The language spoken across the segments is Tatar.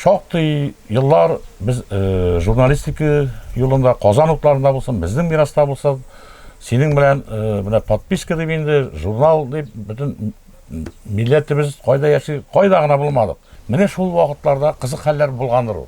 Шактый еллар без э, журналистика юлында, Казан утларында булсын, безнең мираста булсын, синең белән э, менә подписка дип инде, журнал дип бөтен милләтебез кайда яши, кайда гына булмадык. Менә шул вакытларда кызык хәлләр булгандыр ул.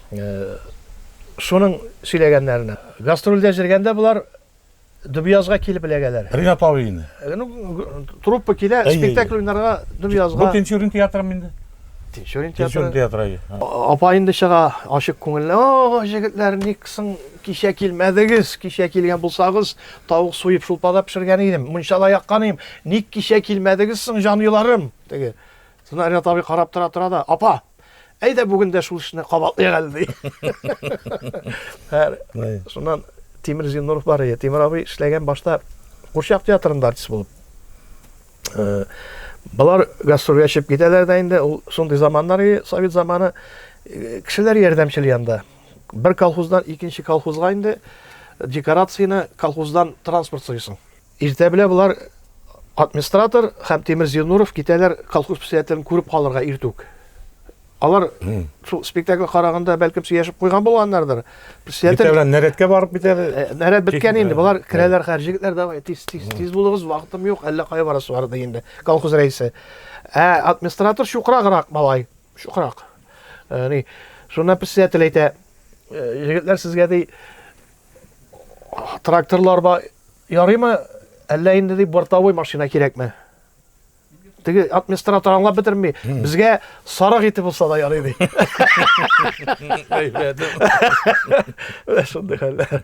Шуның сөйләгәннәренә. Гастрольдә җөргәндә болар Дубиязга килеп эләгәләр. Ринат абыйны. Ну, труппа килә, спектакль уйнарга Дубиязга. Бу Тинчурин театрымы инде? Тинчурин театры. Тинчурин театры. Апа инде чыга, ачык күңелле. О, җегетләр, ник соң кичә килмәдегез? Кичә килгән булсагыз, тавык суеп, шулпада пешергән идем, мунчала яккан идем. Ник кичә килмәдегез соң, җанюларым? Теге. Шунда Ринат абый карап тора-тора да, апа, Әйдә бүген дә шул эшне кабатлыйк әле, ди. Шуннан Тимир Зиннуров бар иде. Тимир абый эшләгән башта Курчак театрында артист булып. Э, Балар гастрольгә чыгып китәләр дә инде. Ул шундый заманнар иде, совет заманы. Э, кешеләр ярдәмчел янда. Бер колхоздан икенче колхозга инде декорацияне колхоздан транспорт сыйсың. Иртә белә болар администратор һәм Тимир Зинуров китәләр колхоз председателен күреп калырга иртүк. Алар шул спектакль караганда бәлкем сөйләшеп куйган булганнардыр. Председатель Битәләр нәрәткә барып битәр. Э, нәрәт беткән инде. Болар керәләр хәр җегетләр давай тиз тиз тиз булыгыз, вакытым юк, әллә кая барасы бар ди инде. Колхоз рәисе. Ә администратор чукраграк малай. Шукрак. Э, ни, шуннан председатель әйтә, э, егетләр сезгә ди тракторлар ба ярыймы, әллә инде ди бортовой машина кирәкме? теге администратор аңлап бетерми безгә сарык ите булса да ярый ди шундый хәлләр